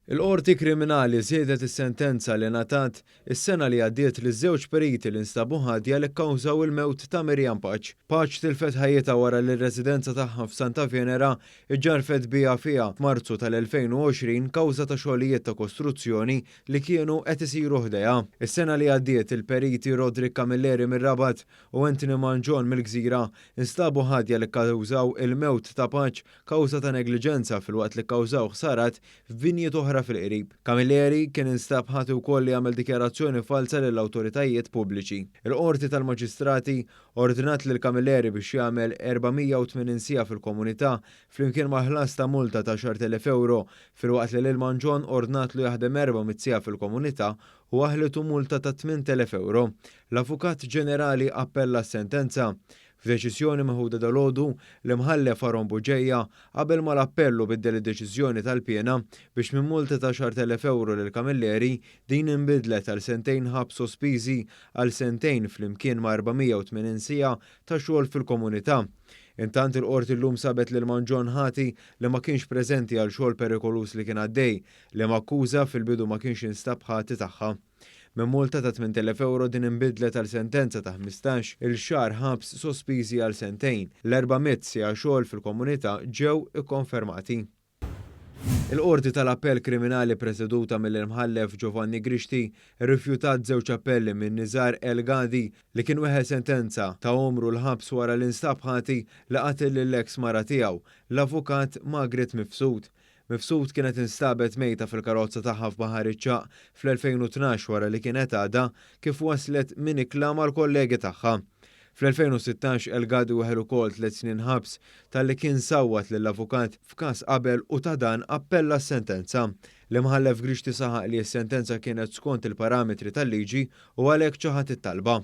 Il-Qorti Kriminali żiedet is-sentenza li ngħatat is-sena li għaddiet liż-żewġ periti li nstabu ħatja li kkawżaw il-mewt ta' Miriam Paċ. Paċ tilfet ħajjitha wara li r-residenza tagħha f'Santa Venera ġġarfet biha fiha f'Marzu tal-2020 kawża ta' xogħlijiet ta' kostruzzjoni li kienu qed isiru ħdejha. Is-sena li għaddiet il-periti Roderick Camilleri mir-Rabat u Anthony Mangion mill-Gżira nstabu ħatja li kkawżaw il-mewt ta' Paċ kawża ta' negliġenza filwaqt li kkawżaw ħsarat f'binjiet oħra fil-qrib. Camilleri kien instab ħati wkoll li għamel dikjarazzjoni falza lill-awtoritajiet pubbliċi. Il-Qorti tal-Maġistrati ordnat lil Camilleri biex jagħmel 480 siegħa fil-komunità flimkien mal-ħlas ta' multa ta' 10,000 ewro filwaqt li lil Mangion ordnatlu jaħdem 400 siegħa fil-komunità u aħlitu multa ta' 8,000 ewro. L-Avukat Ġenerali appella s-sentenza. F'deċiżjoni meħuda dalgħodu, l-Imħallef Aaron Bugeja qabel mal-appell u biddel id-deċiżjoni tal-piena biex minn multa ta' 10,000 ewro lil Camilleri, din inbidlet għal sentejn ħabs sospiżi għal sentejn flimkien ma' 480 siegħa ta' xogħol fil-komunità. Intant il-Qorti llum sabet lil Mangion ħati li ma kienx preżenti għal xogħol perikoluż li kien għaddej Liema akkuża fil-bidu ma kienx instab ħati tagħha. Minn multa ta' 8,000 ewro din inbidlet għal sentenza ta' ħmistax il xahar ħabs sospiżi għal sentejn. L-erba' mitt siegħa xogħol fil-komunità ġew ikkonfermati. Il-Qorti tal-Appell Kriminali preseduta mill-Imħallef Giovanni Grixti rrifjutat żewġ appelli minn Nizar El Ghadi li kien weħel sentenza ta' għomru l-ħabs wara li nstab ħati li qatel lill-eks mara tiegħu, l-Avukat Magret Mifsud. Mifsud kienet instabet mejta fil-karozza tagħha f'Baħar iċ-Ċagħaq fl-2012 wara li kienet għadha kif waslet minn ikla mal-kollegi tagħha. Fl-2016 El Ghadri weħel ukoll tliet snin ħabs talli kien sawwat lill-avukat f'każ qabel u ta' dan appella s-sentenza. L-Imħallef Grixti saħaq li s-sentenza kienet skont il-parametri tal-liġi u għalhekk ċaħad it-talba.